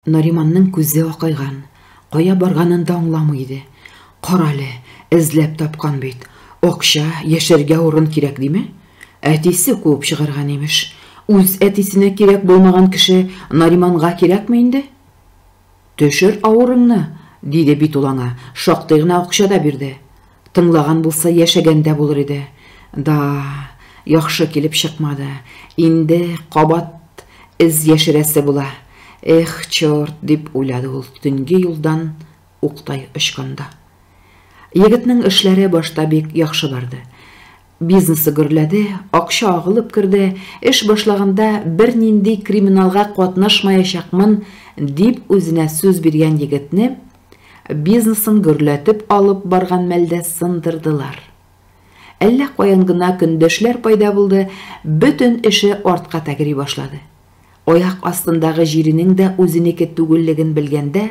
Нариманның күзе акайган, кая барганын да аңламый иде. Карале, эзләп тапкан бит. Акча, яшәргә урын кирәк диме? Әтисе куып чыгарган, имеш. Үз әтисенә кирәк булмаган кеше Нариманга кирәкме инде? Төшер авырыңны, диде бит ул аңа, шактый гына акча да бирде. Тыңлаган булса, яшәгәндә булыр иде. Да, яхшы килеп чыкмады. Инде кабат эз яшерәсе була. Эх, чорт, дип уйлады ул төнге юлдан уктай очканда. Егетнең эшләре башта бик яхшы барды. Бизнесы гөрләде, акча агылып керде, эш башлаганда бернинди криминалга катнашмаячакмын, дип үзенә сүз биргән егетне бизнесын гөрләтеп алып барган мәлдә сындырдылар. Әллә каян гына көндәшләр пайда булды, бөтен эше артка тәгери башлады. Аяк астындагы җиренең дә үзенеке түгеллеген белгәндә,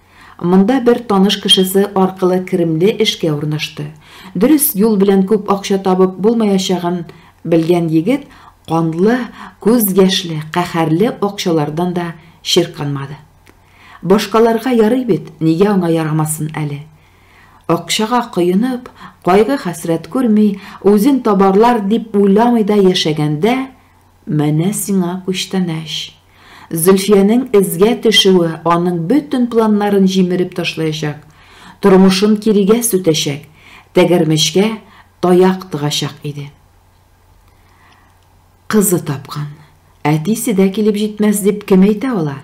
Монда бер таныш кешесе аркылы керемле эшкә урнашты. Дөрес юл белән күп акча табып булмаячагын белгән егет канлы, күз яшьле, каһәрле акчалардан да чирканмады. Башкаларга ярый бит, нигә аңа ярамасын әле? Акчага коенып, кайгы-хәсрәт күрми, үзен табарлар дип уйламый да яшәгәндә, Менә сиңа күчтәнәч. Зөлфиянең эзгә төшүе аның бөтен планнарын җимереп ташлаячак, тормышын кирегә сүтәчәк, тәгәрмәчкә таяк тыгачак иде. Кызы тапкан. Әтисе дә килеп җитмәс дип кем әйтә ала?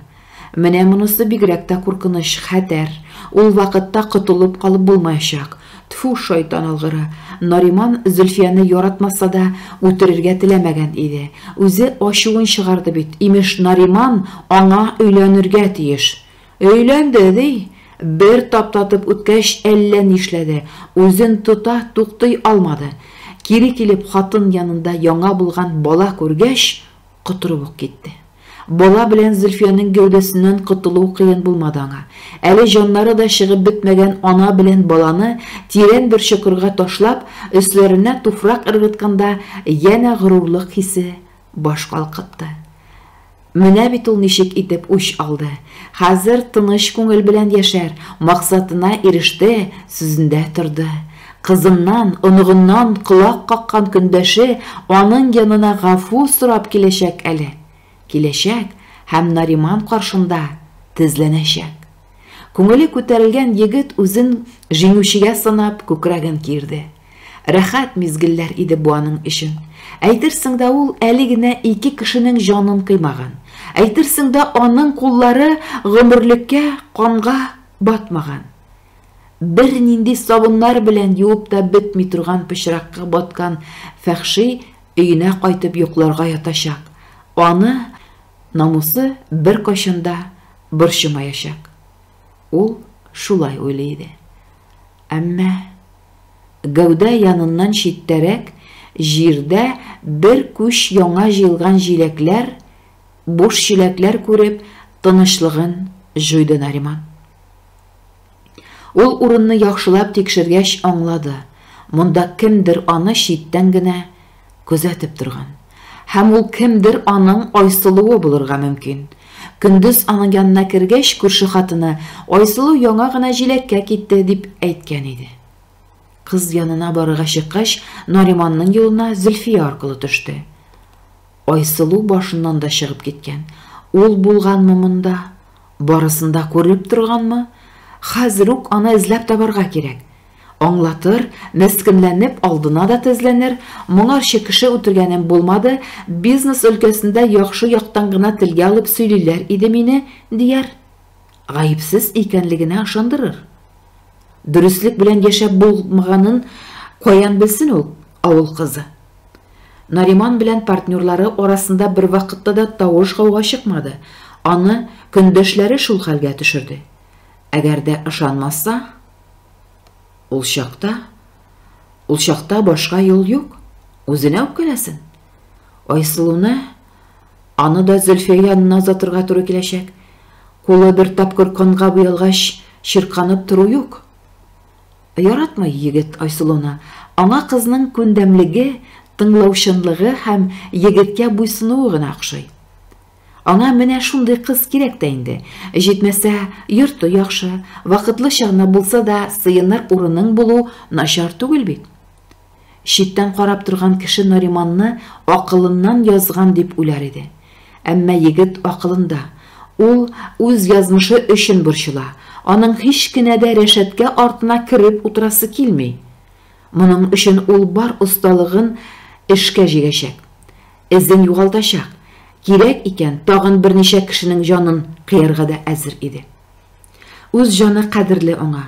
Менә монысы бигрәк тә куркыныч, хәтәр. Ул вакытта котылып калып булмаячак. Тфү, шайтан алгыры. Нариман Зөлфияне яратмаса да, үтерергә теләмәгән иде. Үзе ачуын чыгарды бит, имеш, Нариман аңа өйләнергә тиеш. Өйләнде, ди. Бер таптатып үткәч, әллә нишләде, үзен тота, туктый алмады. Кире килеп хатын янында яңа булган бала күргәч, Котырып ук китте. Бала белән Зөлфиянең гәүдәсеннән котылу кыен булмады аңа. Әле җаннары да чыгып бетмәгән ана белән баланы тирән бер чокырга ташлап, өсләренә туфрак ыргытканда янә горурлык хисе баш калкытты. Менә бит ул ничек итеп үч алды. Хәзер тыныч күңел белән яшәр, максатына иреште, сүзендә торды. Кызыннан, оныгыннан колак каккан көндәше аның янына гафу сорап киләчәк әле. Киләчәк һәм Нариман каршында тезләнәчәк. Күңеле күтәрелгән егет үзен җиңүчегә санап күкрәген киерде. Рәхәт мизгелләр иде бу аның өчен. Әйтерсең дә ул әле генә ике кешенең җанын кыймаган. Әйтерсең дә аның куллары гомерлеккә канга батмаган. Бернинди сабыннар белән юып та бетми торган пычракка баткан Фәхши өенә кайтып йокларга ятачак. Аны намусы беркайчан да борчымаячак. Ул шулай уйлый иде. Әмма гәүдә яныннан читтәрәк җирдә бер күч яңа җыелган җиләкләр, буш чиләкләр күреп, тынычлыгын җуйды Нариман. Ул урынны яхшылап тикшергәч аңлады, монда кемдер аны читтән генә күзәтеп торган. Һәм ул кемдер аның Айсылуы булырга мөмкин. Көндез аның янына кергәч, күрше хатыны, Айсылу яңа гына җиләккә китте, дип әйткән иде. Кыз янына барырга чыккач, Нариманның юлына Зөлфия аркылы төште. Айсылу башыннан да чыгып киткән. Ул булганмы монда? Барысын да күреп торганмы? Хәзер үк аны эзләп табарга кирәк. Аңлатыр, мескенләнеп алдына да тезләнер, моңарчы кеше үтергәнем булмады, бизнес өлкәсендә яхшы яктан гына телгә алып сөйлиләр иде мине, дияр. Гаепсез икәнлегенә ышандырыр. Дөреслек белән яшәп булмаганын каян белсен ул, авыл кызы? Нариман белән партнерлары арасында бервакытта да тавыш-гауга чыкмады, аны көндәшләре шул хәлгә төшерде. Әгәр дә ышанмаса, ул чакта, ул чакта башка юл юк, үзенә үпкәләсен. Айсылуны Аны да Зөлфия янына озатырга туры киләчәк. Кулы бер тапкыр канга буялгач, чирканып тору юк. Яратмый егет Айсылуны. Аңа кызның күндәмлеге, тыңлаучанлыгы һәм егеткә буйсынуы гына охшый. Аңа менә шундый кыз кирәк тә инде. Җитмәсә, йорты яхшы, вакытлыча гына булса да сыеныр урының булу начар түгел бит. Читтән карап торган кеше Нариманны акылыннан язган дип уйлар иде. Әмма егет акылында. Ул үз язмышы өчен борчыла. Аның һич кенә дә рәшәткә артына кереп утырасы килми. Моның өчен ул бар осталыгын эшкә җигәчәк. Эзен югалтачак. Кирәк икән, тагын берничә кешенең җанын кыярга да әзер иде. Үз җаны кадерле аңа.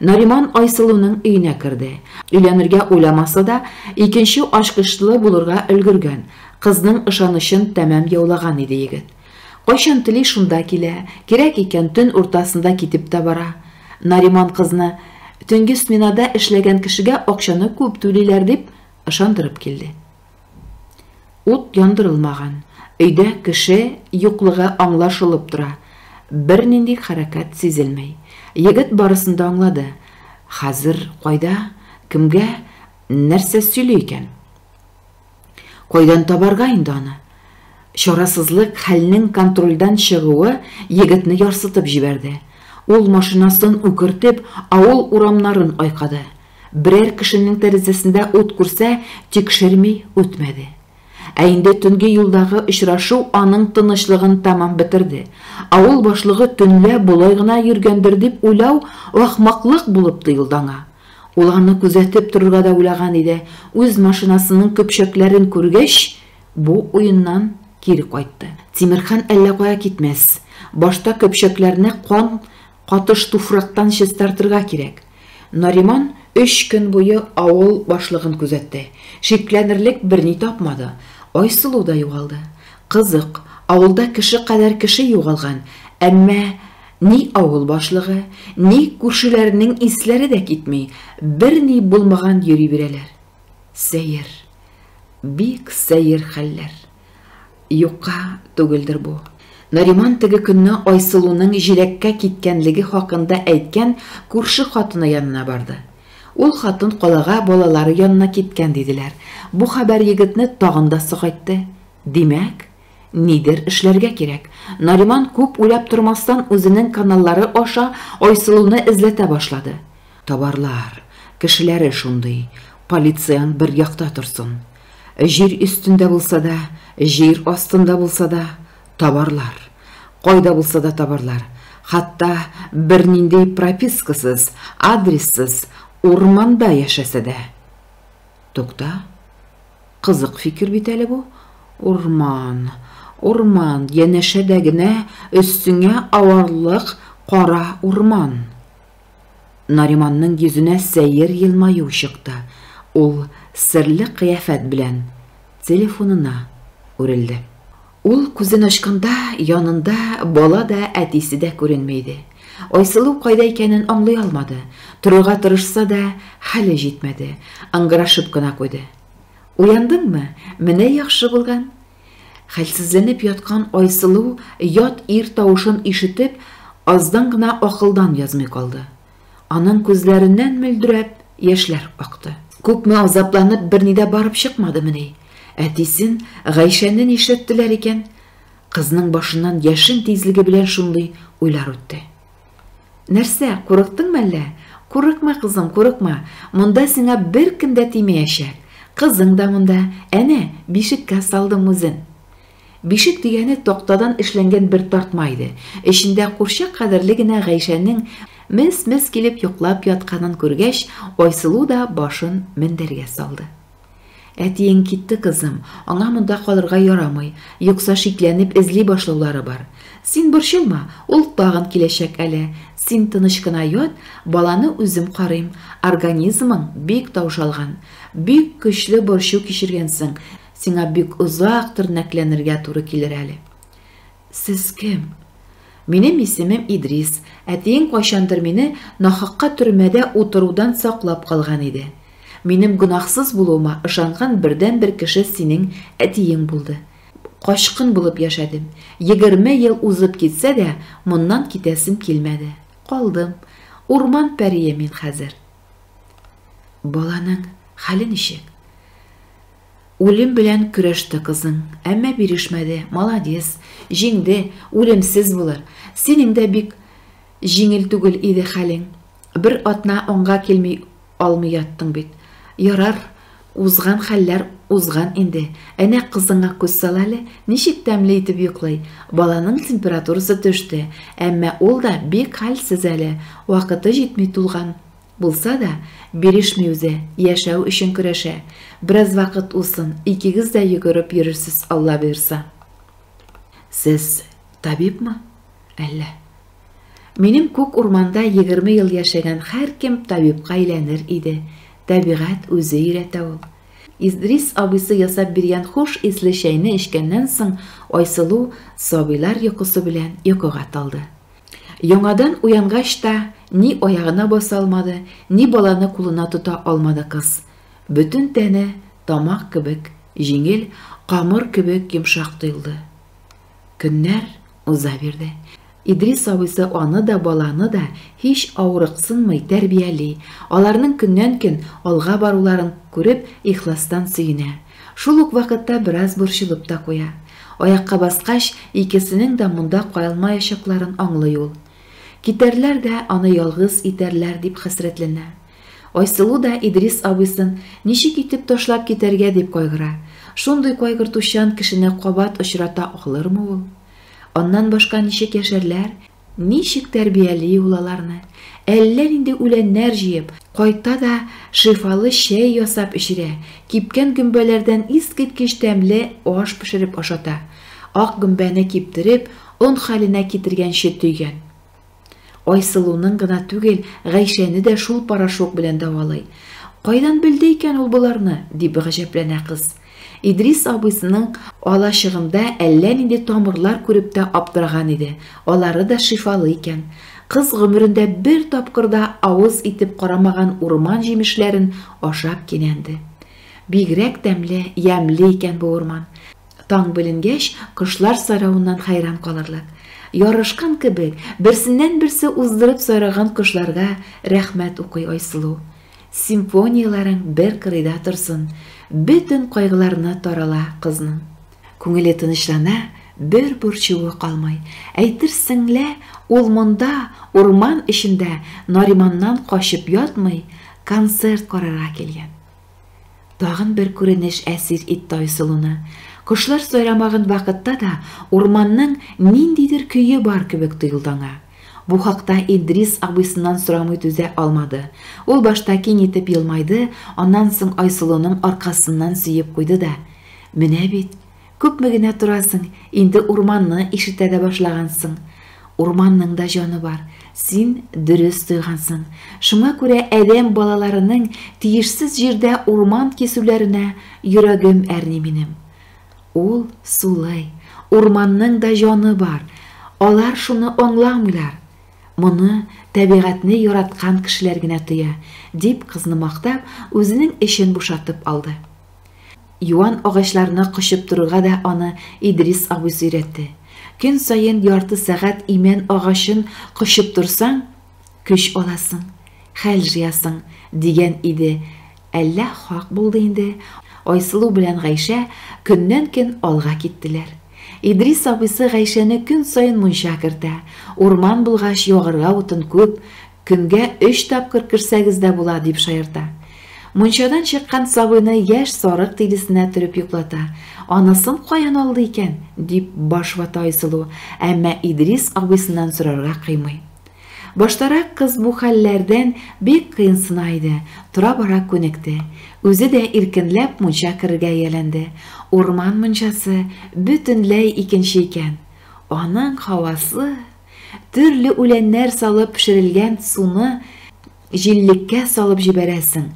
Нариман Айсылуның өенә керде. Өйләнергә уйламаса да, икенче ачкычлы булырга өлгергән, кызның ышанычын тәмам яулаган иде егет. Кайчан тели шунда килә, кирәк икән төн уртасында китеп тә бара. Нариман кызны төнге сменада эшләгән кешегә акчаны күп түлиләр дип ышандырып килде. Ут яндырылмаган, өйдә кеше юклыгы аңлашылып тора, бернинди хәрәкәт сизелми. Егет барысын да аңлады. Хәзер кайда, кемгә, нәрсә сөйли икән? Кайдан табарга инде аны? Чарасызлык хәлнең контрольдән чыгуы егетне ярсытып җибәрде. Ул машинасын үкертеп, авыл урамнарын айкады. Берәр кешенең тәрәзәсендә ут күрсә, тикшерми үтмәде. Ә инде төнге юлдагы очрашу аның тынычлыгын тәмам бетерде. Авыл башлыгы төнлә болай гына йөргәндер дип уйлау ахмаклык булып тоелды аңа. Ул аны күзәтеп торырга да уйлаган иде, үз машинасының көпчәкләрен күргәч, бу уеннан кире кайтты. Тимерхан әллә кая китмәс. Башта көпчәкләрне кан Катыш туфрактан чистартырга кирәк. Нариман өч көн буе авыл башлыгын күзәтте. Шикләнерлек берни тапмады. Айсылу да югалды. Кызык, авылда кеше кадәр кеше югалган, әмма ни авыл башлыгы, ни күршеләренең исләре дә китми, берни булмаган йөри бирәләр. Сәер. Бик сәер хәлләр. Юкка түгелдер бу. Нариман теге көнне Айсылуның җиләккә киткәнлеге хакында әйткән күрше хатыны янына барды. Ул хатын калага балалары янына киткән диделәр. Бу хәбәр егетне тагын да сагайтты. Димәк, нидер эшләргә кирәк. Нариман күп уйлап тормастан үзенең каналлары аша Айсылуны эзләтә башлады. Табарлар, кешеләре шундый, полицияң бер якта торсын. Җир өстендә булса да, җир астында булса да, табарлар. Кайда булса да табарлар. Хатта бернинди пропискасыз, адрессыз урманда яшәсә дә. Тукта. Кызык фикер бит әле бу. Урман, урман, янәшәдә генә өстеңә аварлык кара урман. Нариманның йөзенә сәер елмаю чыкты, ул серле кыяфәт белән телефонына үрелде. Ул күзен ачканда, янында бала да, әтисе дә күренми иде. Айсылу кайда икәнен аңлый алмады, торырга тырышса да, хәле җитмәде, ыңгырашып кына куйды. Уяндыңмы? Менә яхшы булган! Хәлсезләнеп яткан Айсылу, ят ир тавышын ишетеп, аздан гына акылдан язмый калды. Аның күзләреннән мөлдерәп яшьләр акты. Күпме азапланып, берни дә барып чыкмадымыни? Әтисен, Гайшәне нишләттеләр икән? Кызның башыннан яшен тизлеге белән шундый уйлар үтте. Нәрсә, курыктыңмы әллә? Курыкма, кызым, курыкма. Монда сиңа беркем дә тимәячәк. Кызың да монда. Әнә, бишеккә салдым үзен. Бишек дигәне тактадан эшләнгән бер тартма иде. Эчендә курчак кадәрле генә Гайшәнең мес-мес килеп йоклап ятканын күргәч, Айсылу да башын мендәргә салды. Әтиең китте, кызым, аңа монда калырга ярамый, юкса шикләнеп эзли башлаулары бар. Син борчылма, ул тагын киләчәк әле. Син тыныч кына ят, баланы үзем карыйм. Организмың бик таушалган. Бик көчле борчу кичергәнсең, сиңа бик озак тернәкләнергә туры килер әле. Сез кем? Минем исемем Идрис, әтиең кайчандыр мине нахакка төрмәдә утырудан саклап калган иде. Минем гөнаһсыз булуыма ышанган бердәнбер кеше синең әтиең булды. Качкын булып яшәдем. Егерме ел узып китсә дә, моннан китәсем килмәде. Калдым. Урман пәрие мин хәзер. Баланың хәле ничек? Үлем белән көрәште кызың, әмма бирешмәде, молодец, җиңде, үлемсез булыр. Синең дә бик җиңел түгел иде хәлең. Бер атна аңга килми алмый яттың бит. Ярар, узган хәлләр узган инде. Әнә кызыңа күз сал әле, ничек тәмле итеп йоклый. Баланың температурасы төште, әмма ул да бик хәлсез әле, вакыты җитми тулган. Булса да, бирешми үзе, яшәү өчен көрәшә. Бераз вакыт узсын, икегез дә йөгереп йөрерсез, Алла боерса. Сез табибмы? Әллә. Минем күк урманда егерме ел яшәгән һәркем табибка әйләнер иде. Табигать үзе өйрәтә ул. Идрис абыйсы ясап биргән хуш исле чәйне эчкәннән соң Айсылу сабыйлар йокысы белән йокыга талды. Яңадан уянгач та ни аягына баса алмады, ни баланы кулына тота алмады кыз. Бөтен тәне тамак кебек җиңел, камыр кебек йомшак тоелды. Көннәр уза бирде. Идрис абыйсы аны да, баланы да һич авырыксынмый тәрбияли, аларның көннән-көн алга баруларын күреп, ихластан сөенә. Шул ук вакытта бераз борчылып та куя. Аякка баскач, икесенең дә монда калмаячакларын аңлый ул. Китәрләр дә, аны ялгыз итәрләр, дип хәсрәтләнә. Айсылу да Идрис абыйсын ничек итеп ташлап китәргә дип кайгыра. Шундый кайгыртучан кешене кабат очрата алырмы ул? Аннан башка ничек яшәрләр? Ничек тәрбияли ул аларны? Әллә нинди үләннәр җыеп, кайта да шифалы чәй ясап эчерә, кипкән гөмбәләрдән искиткеч тәмле аш пешереп ашата. Ак гөмбәне киптереп, он хәленә китергәнче төйгән. Айсылуның гына түгел, Гайшәне дә шул порошок белән дәвалый. Кайдан белде икән ул боларны? дип гаҗәпләнә кыз. Идрис абыйсының алачыгында әллә нинди тамырлар күреп тә аптыраган иде, алары да шифалы икән. Кыз гомерендә бер тапкыр да авыз итеп карамаган урман җимешләрен ашап кинәнде. Бигрәк тәмле, ямьле икән бу урман. Таң беленгәч, кошлар сайравыннан хәйран калырлык. Ярашкан кебек, берсеннән-берсе уздырып сайраган кошларга рәхмәт укый Айсылу. Симфонияләрең бер кырыйда торсын, Бөтен кайгыларны тарала кызның. Күңеле тынычлана, бер борчуы калмый. Әйтерсең лә ул монда, урман эчендә, Нариманнан качып ятмый, концерт карарга килгән. Тагын бер күренеш әсир итте Айсылуны. Кошлар сайрамаган вакытта да урманның ниндидер көе бар кебек тоелды аңа. Бу хакта Идрис абыйсыннан сорамый түзә алмады. Ул башта киң итеп елмайды, аннан соң Айсылуның аркасыннан сөеп куйды да, Менә бит, күпме генә торасың, инде урманны ишетә дә башлагансың. Урманның да җаны бар, син дөрес тойгансың. Шуңа күрә адәм балаларының тиешсез җирдә урман кисүләренә йөрәгем әрни минем. Ул сулый, урманның да җаны бар, алар шуны аңламыйлар. Моны тәбигатьне яраткан кешеләр генә тоя, дип кызны мактап, үзенең эчен бушатып алды. Юан агачларны кочып торырга да аны Идрис абый сөйрәтте. Көн саен ярты сәгать имән агачын кочып торсаң, Көч аласың, хәл жыясың, дигән иде Әллә хак булды инде, Айсылу белән Гайшә көннән-көн алга киттеләр. Идрис абыйсы Гайшәне көн саен мунча кертә, урман булгач, ягарга утын күп, көнгә өч тапкыр керсәгез дә була, дип шаярта. Мунчадан чыккан сабыйны яшь сарык тилесенә төреп йоклата. Анысын каян алды икән? дип баш вата Айсылу, әмма Идрис абыйсыннан сорарга кыймый. Баштарак кыз бу хәлләрдән бик кыенсына иде, тора-бара күнекте. Үзе дә иркенләп мунча керергә ияләнде. Урман мунчасы бөтенләй икенче икән. Аның һавасы, төрле үләннәр салып пешерелгән суны, Җиллеккә салып җибәрәсең.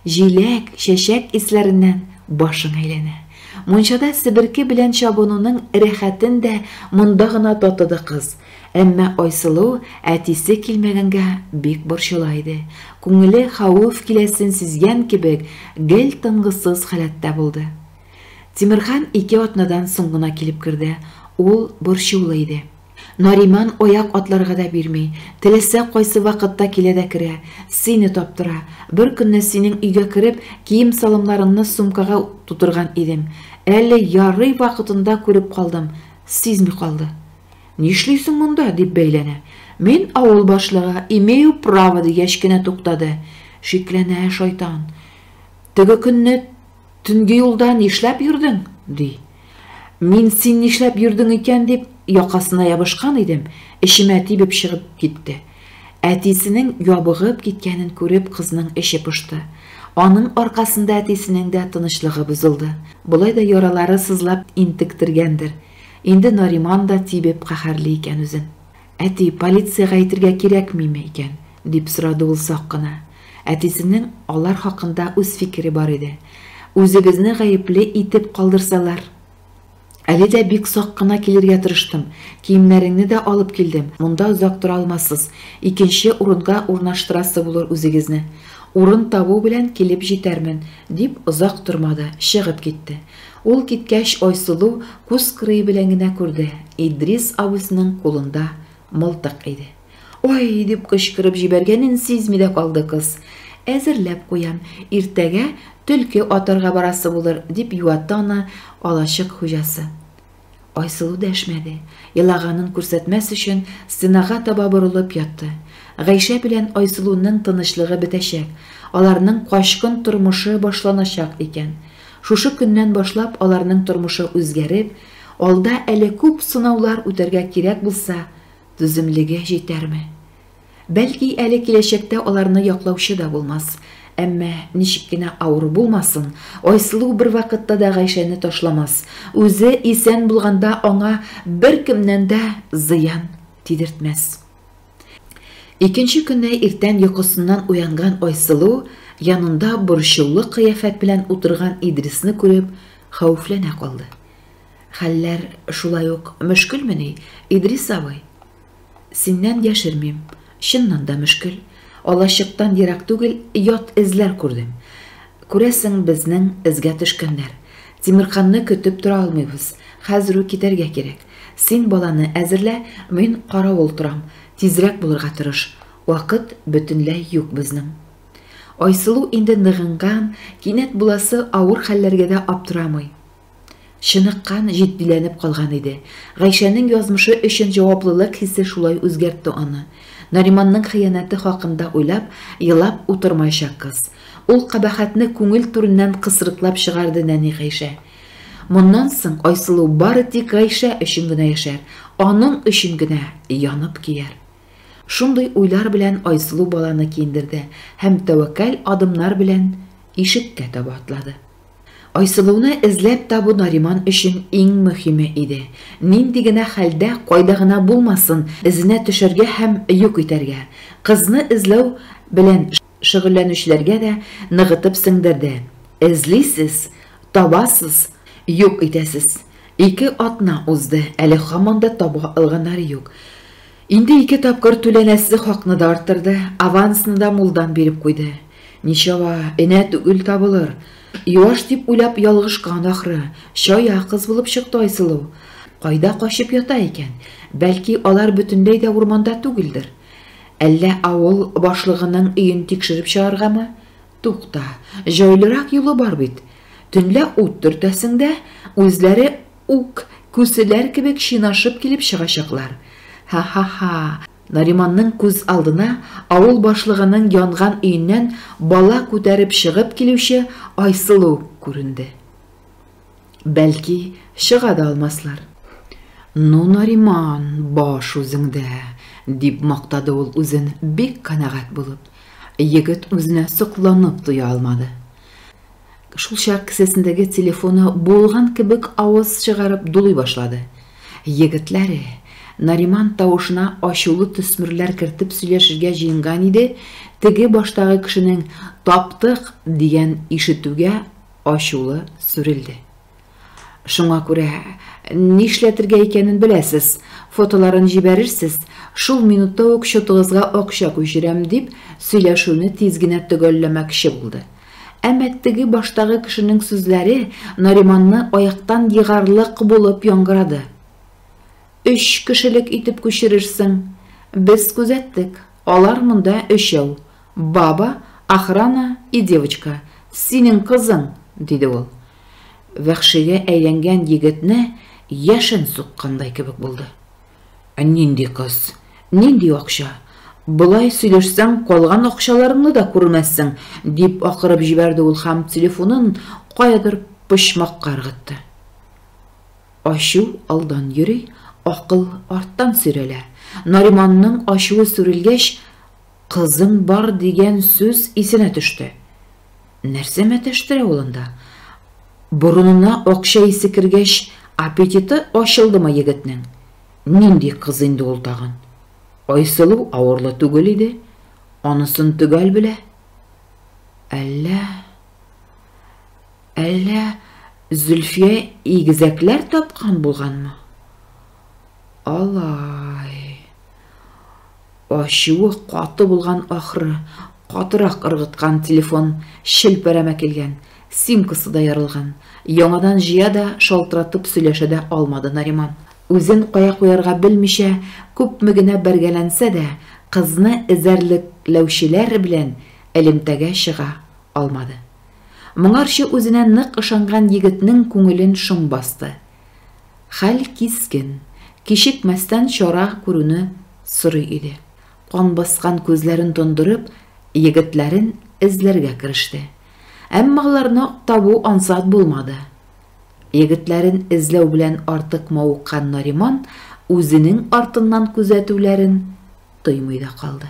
Җиләк, чәчәк исләреннән башың әйләнә. Мунчада себерке белән чабынуның рәхәтен дә монда гына татыды кыз. Әмма Айсылу әтисе килмәгәнгә бик борчыла иде. Күңеле хәвеф киләсен сизгән кебек, гел тынгысыз халәттә булды. Тимерхан ике атнадан соң гына килеп керде. Ул борчулы иде. Нариман аяк атларга да бирми, теләсә кайсы вакытта килә дә керә, сине таптыра. Беркөнне синең өйгә кереп, кием-салымнарыңны сумкага тутырган идем. Әле ярый вакытында күреп калдым, сизми калды. Нишлисең монда? дип бәйләнә. Мин авыл башлыгы, имею право дигәч кенә туктады. Шикләнә шайтан. Теге көнне Төнге юлда нишләп йөрдең? ди. Мин син нишләп йөрдең икән дип якасына ябышкан идем, эчемә тибеп чыгып китте. Әтисенең ябыгып киткәнен күреп кызның эче пошты. Аның аркасында әтисенең дә тынычлыгы бозылды. Болай да яралары сызлап интектергәндер. Инде Нариман да тибеп каһәрли икән үзен. Әти, полициягә әйтергә кирәкмиме икән? дип сорады ул сак кына. Әтисенең алар хакында үз фикере бар иде. Үзегезне гаепле итеп калдырсалар? Әле дә бик сак кына килергә тырыштым. Киемнәреңне дә алып килдем. Монда озак тора алмассыз. Икенче урынга урнаштырасы булыр үзегезне. Урын табу белән килеп җитәрмен, дип озак тормады, чыгып китте. Ул киткәч, Айсылу күз кырые белән генә күрде, Идрис абыйсының кулында мылтык иде. Ой! дип кычкырып җибәргәнен сизми дә калды кыз. Әзерләп куям, иртәгә төлке атарга барасы булыр, дип юатты аны алачык хуҗасы. Айсылу дәшмәде, елаганын күрсәтмәс өчен стенага таба борылып ятты. Гайшә белән Айсылуның тынычлыгы бетәчәк, аларның качкын тормышы башланачак икән. Шушы көннән башлап аларның тормышы үзгәреп, алда әле күп сынаулар үтәргә кирәк булса, түземлеге җитәрме? Бәлки әле киләчәктә аларны яклаучы да булмас. Әмма, ничек кенә авыр булмасын, Айсылу бервакытта да Гайшәне ташламас, үзе исән булганда аңа беркемнән дә зыян тидертмәс. Икенче көнне иртән йокысыннан уянган Айсылу янында борчулы кыяфәт белән утырган Идрисны күреп, хәвефләнә калды. Хәлләр шулай ук мөшкелмени, Идрис абый? Синнән яшермим, чыннан да мөшкел. Алачыктан ерак түгел ят эзләр күрдем. Күрәсең, безнең эзгә төшкәннәр. Тимерканны көтеп тора алмыйбыз. Хәзер үк китәргә кирәк. Син баланы әзерлә, мин каравыл торам. Тизрәк булырга тырыш. Вакыт бөтенләй юк безнең. Айсылу инде ныгынган, кинәт буласы авыр хәлләргә дә аптырамый. Чыныккан, җитдиләнеп калган иде. Гайшәнең язмышы өчен җаваплылык хисе шулай үзгәртте аны. Нариманның хыянәте хакында уйлап, елап утырмаячак кыз. Ул кабахәтне күңел түреннән кысрыклап чыгарды нәни Гайшә. Моннан соң Айсылу бары тик Гайшә өчен генә яшәр, аның өчен генә янып көяр. Шундый уйлар белән Айсылу баланы киендерде һәм тәвәккәл адымнар белән ишеккә таба атлады. Айсылуны эзләп табу Нариман өчен иң мөһиме иде. Нинди генә хәлдә, кайда гына булмасын, эзенә төшәргә һәм юк итәргә. Кызны эзләү белән шөгыльләнүчеләргә дә ныгытып сеңдерде. Эзлисез, табасыз, юк итәсез. Ике атна узды, әле һаман да таба алганнары юк. Инде ике тапкыр түләнәсе хакны да арттырды, авансны да мулдан биреп куйды. Ничава, энә түгел табылыр. Юаш дип уйлап ялгышкан ахры, чая кыз булып чыкты Айсылу. Кайда качып ята икән? Бәлки, алар бөтенләй дә урманда түгелдер? Әллә авыл башлыгының өен тикшереп чыгаргамы? Тукта, җайлырак юлы бар бит. Төнлә ут төртәсең дә, үзләре үк күселәр кебек чинашып килеп чыгачаклар. Ха-ха-ха! Нариманның күз алдына авыл башлыгының янган өеннән бала күтәреп чыгып килүче Айсылу күренде. Бәлки, чыга да алмаслар. Ну, Нариман, баш үзеңдә, дип мактады ул үзен бик канәгать булып. Егет үзенә сокланып туя алмады. Шулчак кесәсендәге телефоны буылган кебек аваз чыгарып дулый башлады. Егетләре, Нариман тавышына ачулы төсмерләр кертеп сөйләшергә җыенган иде, теге баштагы кешенең Таптык! дигәнен ишетүгә ачулы сүрелде. Шуңа күрә, нишләтергә икәнен беләсез, фотоларын җибәрерсез, шул минутта ук счетыгызга акча күчерәм, дип, сөйләшүне тиз генә төгәлләмәкче булды. Әмма теге баштагы кешенең сүзләре Нариманны аяктан егарлык булып яңгырады. Өч кешелек итеп күчерерсең. Без күзәттек, алар монда өчәү. Баба, охрана и девочка, синең кызың! диде ул. Вәхшигә әйләнгән егетне яшен суккандай кебек булды. Ә нинди кыз? Нинди акча? Болай сөйләшсәң, калган акчаларыңны да күрмәссең, дип акырып җибәрде ул һәм телефонын каядыр почмакка ыргытты. Ачу алдан йөри, акыл арттан сөйрәлә. Нариманның ачуы сүрелгәч, Кызым бар дигән сүз исенә төште. Нәрсә мәтәштерә ул анда? Борынына акча исе кергәч, аппетиты ачылдымы егетнең? Нинди кыз инде ул тагын? Айсылу авырлы түгел иде, анысын төгәл белә. Әллә... Әллә Зөлфия игезәкләр тапкан булганмы? Алай. Ачуы каты булган ахры, катырак ыргыткан телефон челпәрәмә килгән, симкасы да ярылган. Яңадан җыя да, шалтыратып сөйләшә дә алмады Нариман. Үзен кая куярга белмичә, күпме генә бәргәләнсә дә, кызны эзәрлекләүчеләр белән элемтәгә чыга алмады. Моңарчы үзенә нык ышанган егетнең күңелен шом басты. Хәл кискен, кичекмәстән чара күрүне сорый иде. Кан баскан күзләрен тондырып, егетләрен эзләргә кереште. Әмма аларны табу ансат булмады. Егетләрен эзләү белән артык мавыккан Нариман үзенең артыннан күзәтүләрен тоймый да калды.